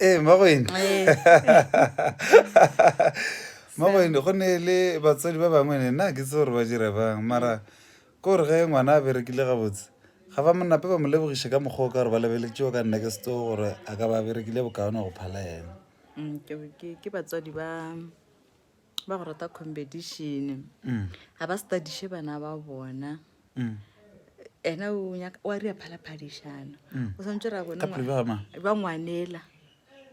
ee mmagwene mmagwene go ne le batswadi ba bangwe ne nna ke tse gore ba dira bang mara ke gore ge ngwana a berekile gabotse ga ba monape ba mo lebogiše ka mokgwa o ka gore ba lebeletšeo ka nna ke seto gore a ka ba berekile bokaone go phala ena mm, ke batswadi ba ba go rata competition ga ba studiše bana ba bona ena o nyaka- wa ria phalaphadišano o tshwanetse ra bone ka pelo ba mang ba ngwanela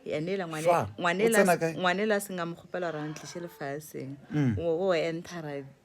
yanela ngwane- Fa, o ngwanela tsena kae? ngwanela a seng a mo kgopela gore a ntliše lefaseng o o entara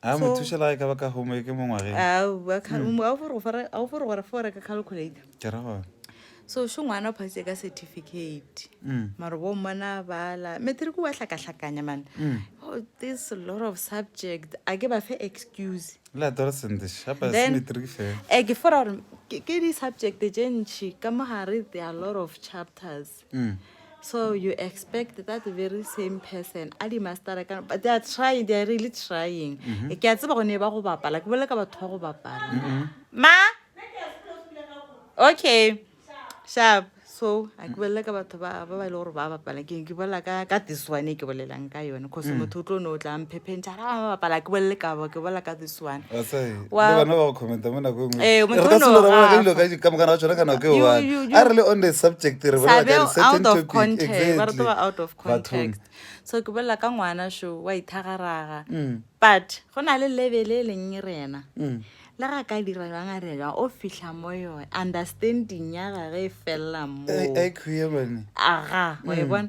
a mo thuša la e ka ba ka home ke mo ngwageng hmm. a o fore gore fore ka calculator ke ra gona so šo ngwana o phasitse ka certificate hmm. maro bo mmona bala matric wa hlakahlakanya mane hmm. oh, this lot of subject a ke ba fe excuse le adolescent shapa se matric fe e ke fora gore ke di subject tše ntši ka mo gare there are lot of chapters mm. so you expect that very same person a di mastera ka but they are trying they are really trying mm -hmm. ke a tseba gone ba go bapala ke bolela ka batho ba go bapala mm -hmm. ma okay sharp so a ke bolela ka batho ba ba ba e le gore ba bapala ke ke bolela ka ka this one e ke bolelang ka yone cause mm. motho o tlo ne o tla mphephentsha ra ba bapala ke bolele ka bo ke bolela ka this one wa bana ba go commenta mo nako engwe eh mo tlo lo ra ga dilo ka ka mokana wa tsona kana ke wa a re le on the subject re ba ka re certain topic exactly ba re ba out of context so ke bolela ka ngwana sho wa ithagaraga but go na le level e leng rena le ga ka dira jwang a re jwang o fitlha mo yone understanding ya gage e felela mo aga wa e bona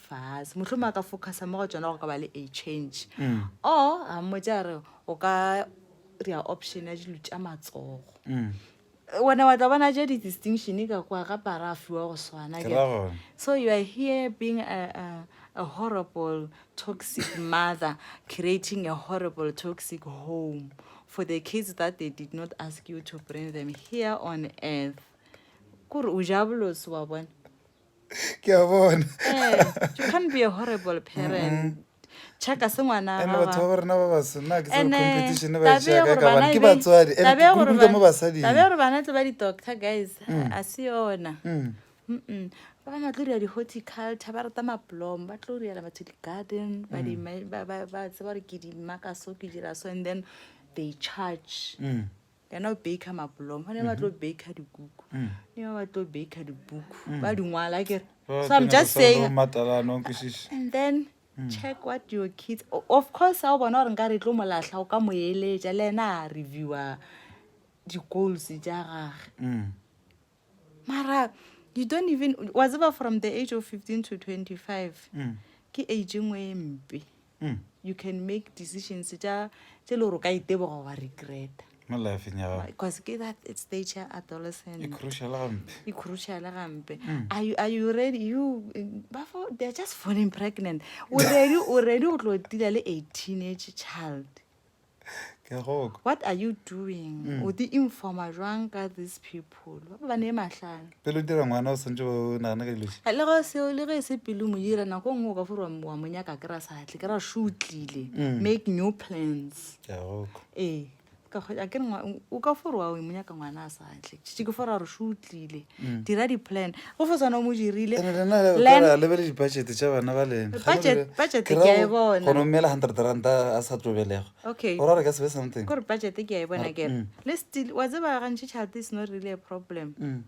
fase mohlomong a ka focusa mo go tsona go ka ba le a change mm. or a mmotsa a re o ka rea option ya dilo tša matsogo mm. wena wa tla bona je di-distinction ka kwa ga para a fiwa go swana so you are here being a, a, a horrible toxic mother creating a horrible toxic home for the kids that they did not ask you to bring them here on earth kore o ja bolosi wa bona ke a bona Eh, you can't be a horrible parent chaka se ngwana ene batho ba rena ba baso nna ke tsebe competition ba e tšea kae ka bana ke batswadi ene ke kurukuruka mo basading tabe gore bana tle ba di-doctor guys Mm. a se yona Mm. Mm-mm. ba bangwe ba tlo dira di-horticulture ba rata maplom ba tlo direla batho di-garden ba di- ba- ba ba tseba gore ke dimaka so ke dira so and then they charge Mm. Then o baker mapoloma gone ba tlo baker dikuku ne ba ba tlo baker dibuku ba di ngwala kere Ba so i'm tsena just ba sa saying tlo matala, no nkwešiše. and then check what your kids o- of course a o bona gore nka re tlo molahla o ka mo eletša le ena a reviewa di-goals tša gage Mm. mara you don't even wa tseba from the age of 15 to 25 mm. ke age e ngwe e mpe mm. you can make decisions tša tše le gore o ka iteboga wa regreta because ke that stage ya adolescent e cruciale gampe mm. are you ready you bafo they're just falling pregnant o ready o ready go tlo tila le a teenage child ke a go kwa what are you doing mm. o di informa jwang ka these people ba ba ne mahlano pelo dira ngwana o santse o nagana ka ilosi le go se le ge se pelo mo dira nako nngwe o ka fore wa mo nyaka ke ra sa tle ke ra shutlile mm. make new plans ke a go kwa ee ka go a ke o ka fore wa mo nyaka ngwana a sa tle tšitši ke fore a re shutlile Mm. dira di-plan go fo tshwana o mo dirile Ene lena le- Plan- re a lebele di-budget tša bana ba lena Ga le Budget- lebe- budget ke ra ke a e go- bona. go no mela hundred ranta a sa tlo belega okay o ra re ka sebe something kore budget ke a e bona Mara- kere mm. le still wa tseba gantši child is not really a problem Mm.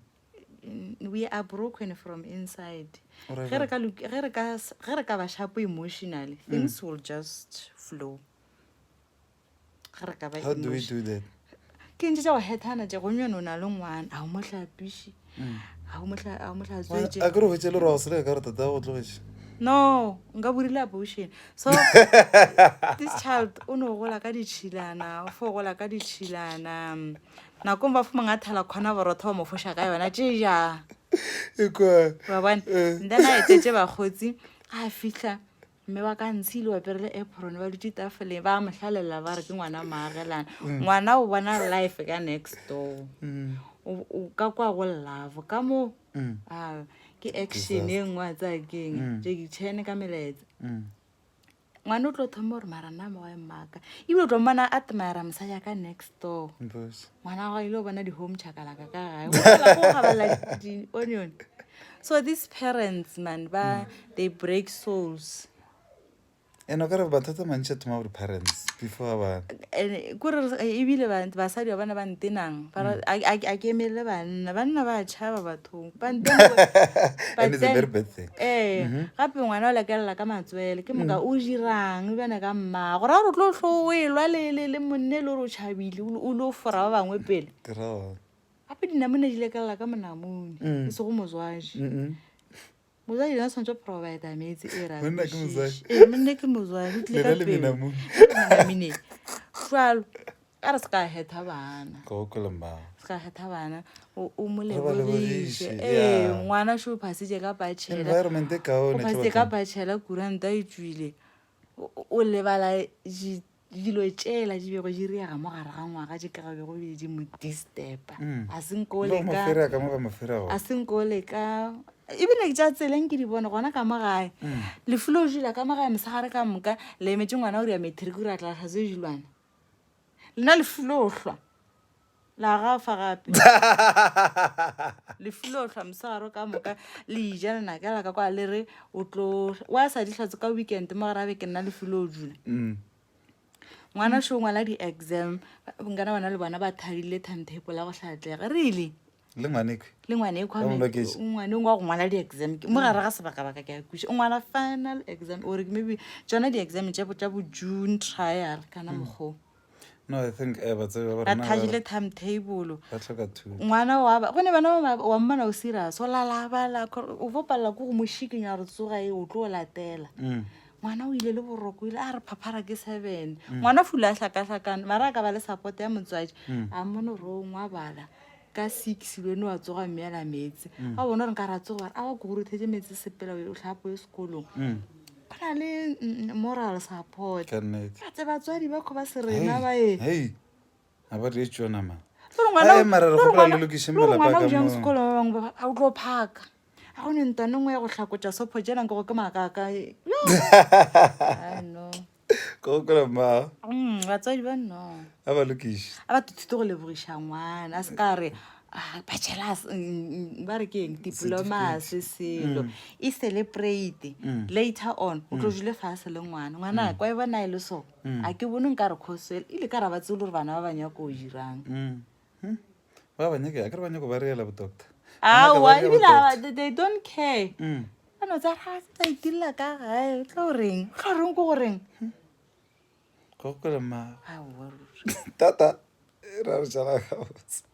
Mm, we are broken from inside O ra ge re jwang? ka luk- ge re ka s- ge re ka ba shapo emotionally things will just flow ga re ka ba How do we emotion- do that? ke ntse tša go hethana tše gonyone o na le ngwana ga o mo hlapiše ga o mo hla- ga o mo hlatswetše a kere hwetse le roa go seleka ka gore tata go tlogetše no nka borile abortion so this child o no gola ka ditšhilana o fo gola ka ditšhilana mm, nakong ba fomang a thala kgona borotho ba mo foša ka yona tšeja ekwa wa bona Eh. then a etetse bakgotsi a fihla mme ba ka ntshile ba perele apron ba dutse tafoleng ba mo hlalela ba re ke ngwana maagelana mm. ngwana o bona life ka next door mm. o ka kwa go love ka moo mm. ah, ke action e nngwe a tsaya keng jeki chene ka melaetse ngwana o tlo thoma gore mara nna mogae mmaka ebile o tlo mmona a tmayara mosadi ya ka next door ngwana ga ile go bona di-home chakalaka ka gae go gabala di-onion so these parents man ba mm. they break souls and o kare batho tse mantšha thoma gore parents before ba kore eh, ebile basadi ba bana ba ntenang mm. a ke emelele banna banna ba tšhaba bathong and it's a very bad thing ee mm-hmm. gape ngwana o lekelela ka matswele ke moka mm. o dirang ebjane ka mmaa gore gore o tlo tlo o e lwa le monne le gore o tšhabile o le o fora ba bangwe pele gape dinamone di lekelela ka monamone mm. e sego mozwaji mozwaji yona tshwanetse provide metsi e ramonne ke mozwaji tlile ka pele jalo a re se ka kgetha bana ka o kweleng ba se ka kgetha bana o o mo Re ba lebogiše lebogiše, ee yeah. ngwana šo o phasitše ka bachela environment e o kaone hle phasitše ka bathong. bachela kuranta e tswile o- o o lebala di- dilo tšela di bego di riaga mo gare ga ngwaga di ka bego be di mo disturba Mm. a se nko o Lo mo leka fere ka mo ba mo fere go a se nko o leka ebile ke tša tseleng ke di bone gona ka mo gae Mm. lefulo o jula ka mo gae mosegare ka moka le emetse ngwana o ria matric o ratlatlhatse dilwana lena lefulohlwa la gafa gape lefulohlwa mosegaro ka moka le ija lenaka la ka kwa le re o tlo wa sa ditlhatse ka weekend mo gare abe ke nna lefulo o dula mm. ngwana sho ngwala di-exam nkana bona le bona ba thabile timetable ya go tlhatlhega really le ngwaneko le ngwaneko Ka boloketši. ngwane ngwa go ngwala di-exam ke- mo gare ga sebaka-baka ke a kuša o ngwala final exam ore maybe tsona di-exam tša bo- tša bo june trial kana mokgoo no i think eh, ba tsebe gore ba na thagile ba- timetable ba tlhoka thuto ngwana wa ba gone bana ba ba- wa mmona o serious o lalabala kore o bo palela ko go mošikinya gore tsoga e o tlo o latela Mm. ngwana o ile le boroko o ile a re phaphara ke seven ngwana fula a hlakahlakane mara a ka ba le support ya motswadi a mmone gore o ngwa bala ka six le one wa tsoga mme ala meetse mm. a bona gore nka ra tsoga a ba kogorothetse meetse sepela o tlhapo e sekolong mm. go na le mm, moral support atse batswadi ba kgo ba se rena ba e tlongwanajang sekolo ba bangwe ba a o tlo phaka a go ne ntwane nngwe ya go tlhakotsa sopho jenang ke go ke maakaka go kwela mmago Mm, batswadi ba no a ba lokiše a ba thute go lebogiša ngwana a se ka re "Ah, bachelas mm, ba re ke eng diplomas selo e celebrate later on o tlo jule fase le ngwana ngwana kwa e bona e le so a ke bone nka re cosel ile ka ra ba tsebe le gore bana ba ba nyako o dirang Mm. hmm? ba ba nyake akere ba nyako ba reela bodoctor awa ebile they don't care hmm. ano tsa ga se tsa itirela ka gae o tla o reng o tla o reng ko go reng hmm. go gokola mmago tata e ra re jala gabotse